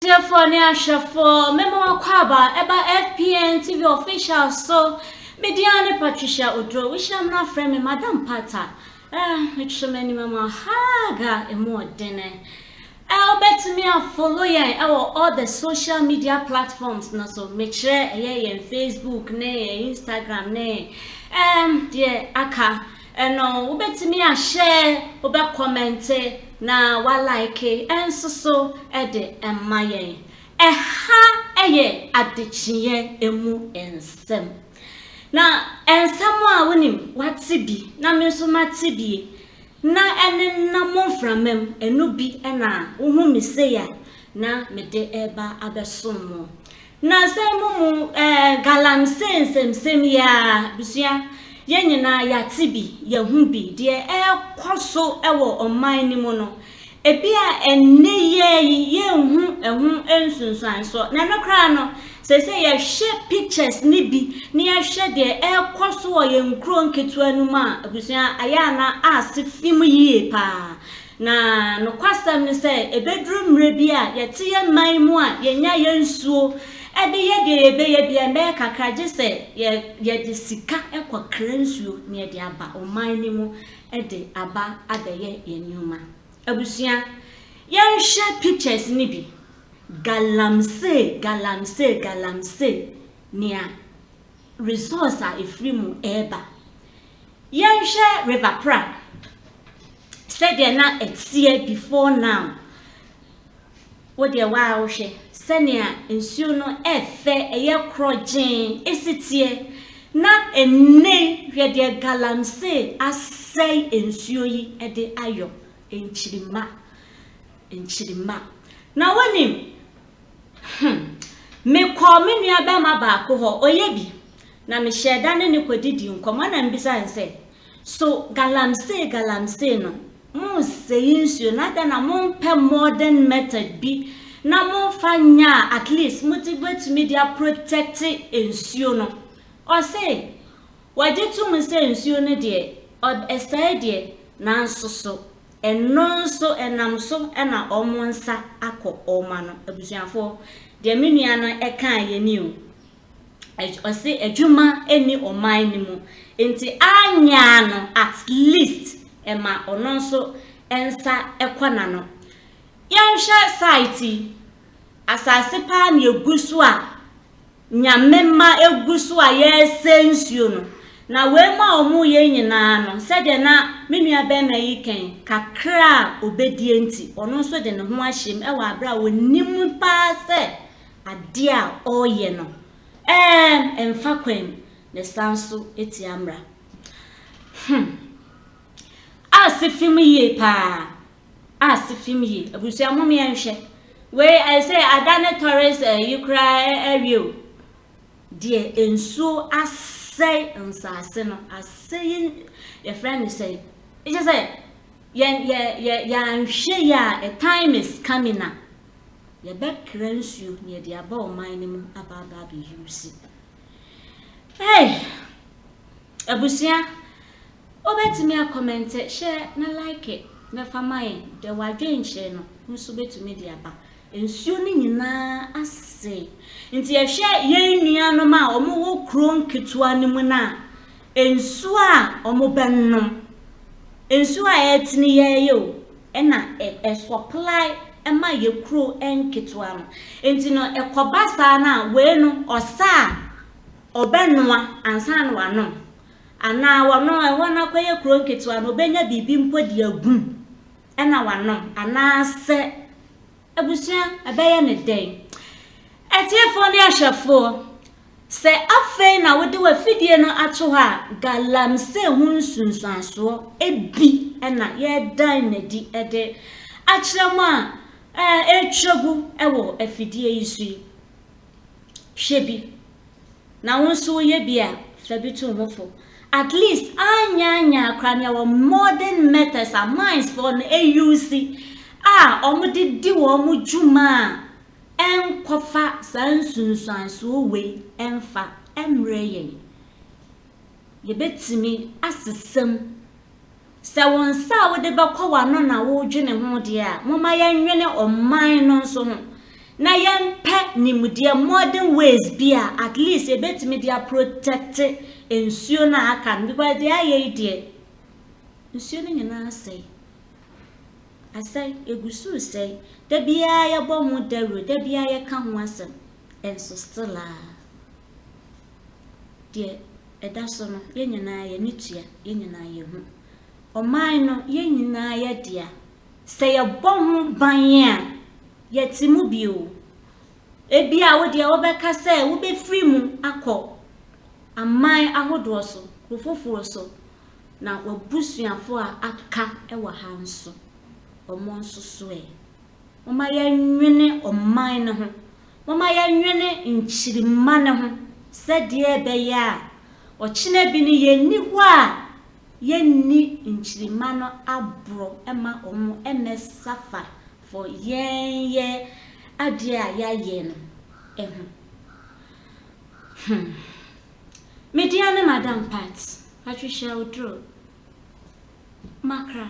Atiefoɔ ne ahwɛfoɔ, me mo akwaaba ɛba FPN TV official so. Me din ara ne Patricia Oduro. Wo hyia me na frɛ me Madam Pata. Eh, me kyerɛ m'anim ama hug a ɛmu ɔdene. Eh, wo bɛtumi a follow yɛn ɛwɔ all the social media platforms no so. Me kyerɛ ɛyɛ yɛn Facebook ne yɛn Instagram ne eh, deɛ aka. Ɛno wobɛtumi ahyɛ, wobɛkɔmɛnte na woalaeke nso so de ma yɛn. Ɛha yɛ adekyeɛ mu nsɛm. Na nsɛm a wonim woate bi na me nso mate bi na ɛnenam mo mframa mu, ɛno bi na wohu me sei a na mede reba abɛsom mo. Na sɛ mo mu eh, galamsee nsɛmsɛm yi aa, abusua, yɛn nyinaa yɛate bi, yɛahu bi, deɛ ɛrekɔ so wɔ ɔman no mu no, ebia ɛnnɛ yi ara yi yɛnhu ɛho nsunsuansoɔ, na ɛno koraa no, seesei yɛhwɛ pictures no bi na yɛhwɛ deɛ ɛrekɔ so wɔ yɛn nkuro nketewa no mu a, abusua, ayɛ a na ase fi mu yie paa. Na nokwasɛm ne sɛ, ɛbɛduru mmerɛ bi a yɛte yɛn man mu a yɛnya yɛn nsuo de yɛ deɛ yɛbɛyɛ biara, ɛbɛyɛ kakra gye sɛ yɛde sika kɔkra nsuo na yɛde aba ɔman no mu de aba abɛyɛ yɛn nneɛma. Abusua, yɛnhwɛ pictures no bi. Galamsey, galamsey, galamsey, nea results a ɛfiri mu reba. Yɛnhwɛ River Pra sɛdeɛ na ɛteɛ before now. Wo deɛ waa wohwɛ sɛnea nsuo no ɛfɛ ɛyɛ korɔgyee ɛsi teɛ na ɛnne hwɛ deɛ galamsey asɛe nsuo yi ɛde ayɔ nkyirima nkyirima na wonim Hmm. Mekɔɔ me nua bɛrima baako hɔ, ɔyɛ bi, na mehyɛɛ da ne no kɔdidii nkɔmmɔ na mbisaa no sɛ, So galamsey galamsey no, monnsɛe nsuo na adɛn na mompɛ modern method bi na momfa nyɛ a at least mode bɛtumi de aprotɛkte nsuo no? Ɔse wɔgye tom sɛ nsuo no deɛ, ɔb, ɛsɛe deɛ, nanso so Ɛno nso ɛnam so na wɔn nsa akɔ wɔn ano. Abusuafoɔ, deɛ me nua no kaeɛ ni o. Ɛgy, ɔse adwuma nni ɔman no mu, nti anyɛ a no at least ɛma ɔno nso nsa kɔ n'ano. Yɛnhwɛ site yi, asase paa na ɛgu so a Nyame mma egu so a yɛresɛe nsuo no. Na wei mu a wɔreyɛ yi nyinaa no, sɛdeɛ na me nua barima yi ka yi, kakra a ɔbɛdie nti, ɔno nso de ne ho ahyɛ mu wɔ aberɛ a ɔnim paa sɛ adeɛ a ɔreyɛ no ɛmfa kwan na ɛsan nso tia mmara. Hmm. Aase fem yie paa. Ah se film yi abusua mom yɛ nhwɛ wei ayɛ sɛ ada ne tɔres eh, yi koraa eh, awie o deɛ nsuo asɛe nsaase no asɛe yɛfrɛ ne sɛ ɛkyɛ sɛ yɛn yɛ yɛ yɛanhwɛ yɛ a a time is coming a yɛbɛkra nsuo na yɛde aba ɔman no mu aba aba abɛyi wusi hey Abusua wobɛtumi a kɔmɛnte, hyɛ na like na fa ma yɛn dɛ wadwenkyerɛ no nso bɛtumi de aba. Nsuo no nyinaa ase nti yɛhwɛ yɛn nuanom a wɔn wɔ kuro nketewa no mu no a nsuo a wɔn bɛnom nsuo a ɛtene yɛyɛ o ɛna ɛsɔplae ɛma yɛ kuro nketewa no nti no ɛkɔba saa no a wei no ɔsa a Ɔbɛnoa ansa na wanom, anaa ɔno ɛhɔ no akɔyɛ kuro nketewa no, ɔbɛnya biribi mpo de agu mu na wanom, anaasɛ abusua ɛbɛyɛ no dɛn? Atiefoɔ ne ahwɛfoɔ, sɛ afei na wode w'afidie no ato hɔ a, galamsey ho nsunsuansoɔ bi na yɛredan no adi de akyerɛ mo a ɛretwa gu wɔ afidie yi so yi. Hwɛ bi. Na wo nso woyɛ bi a, fa bi to ho fo. At least anyaanyaa koraa no yɛwɔ modern methods a mines foɔ no ayusi a wɔde di wɔn dwuma a ɛnkɔfa saa nsunsuansoɔ wei ɛmfa ɛmmerɛ yɛn. Yɛbɛtumi asesa mu. Sɛ wo nsa a wode bɛkɔ w'ano na woredwene ho deɛ a, momma yɛnnwene ɔman no nso ho, na yɛmpɛ nimdeɛ, modern ways bi a at least yɛbɛtumi de aprotɛkte nsuo no a aka no, because deɛ ayɛ yi deɛ, nsuo no nyinaa asɛe. Asɛe, ɛgu so resɛe. Da biara yɛbɔ ho dawuro, da biara yɛka ho asɛm, nso still a. Deɛ ɛda so no, yɛn nyinaa yɛn ani tua, yɛn nyinaa yɛhu. Ɔman no, yɛn nyinaa yɛ dea. Sɛ yɛbɔ ho ban a, yɛte mu bio. Ebi a wo deɛ wobɛka sɛ wobɛfiri mu akɔ aman ahodoɔ so, kuro foforɔ so, na w'abusuafoɔ a aka wɔ ha nso, wɔn nso soɛ. Momma yɛnwene ɔman no ho Momma yɛnnwene nkyirimma no ho sɛdeɛ ɛbɛyɛ a ɔkyena bi no yɛnni hɔ a yɛnni nkyirimma no aborɔ ma wɔmmɛsafa fɔ yɛn yɛ adeɛ a yɛayɛ no ho. Hmm. Me deɛ ne Madam Pat, Patricia Oduro, Makra.